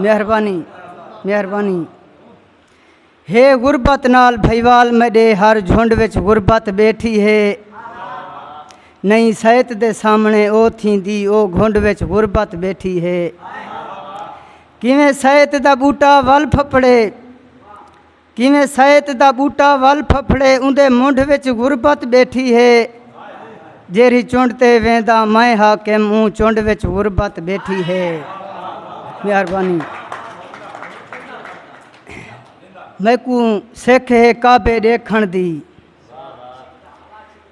مہربانی مہربانی ہے غربت نال بھائیوال میڈے ہر جھنڈ وچ غربت بیٹھی ہے نہیں سیت دے سامنے او تھیندی او گھنڈ وچ غربت بیٹھی ہے کیویں سیت دا بوٹا ول پھپڑے کیویں سئیت دا ٻوٹا ول پھپھڑے اوندے منڈھ وچ غربت ٻیٹھی ہے جیرھی چنڈ تے ویندا میں حاکم اوں چنڈ وچ غربت ٻیٹھی ہے مہربانی میکوں سکھ ہے کعبے ڈیکھن دی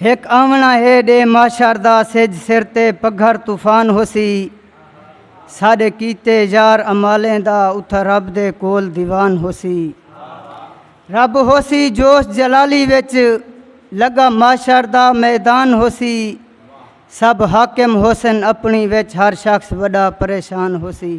ہک آوݨا ہے ݙے معاشر دا سجھ سر تے پگھر طوفان ہوسی ساݙے کیتے یار امالیں دا اتھاں رب دے کول دیوان ہوسی رب ہوسی جوش جلالی وچ لگا معاشر دا میدان ہوسی سب حاکم ہوسن اپنی وچ ہر شخص وڈا پریشان ہوسی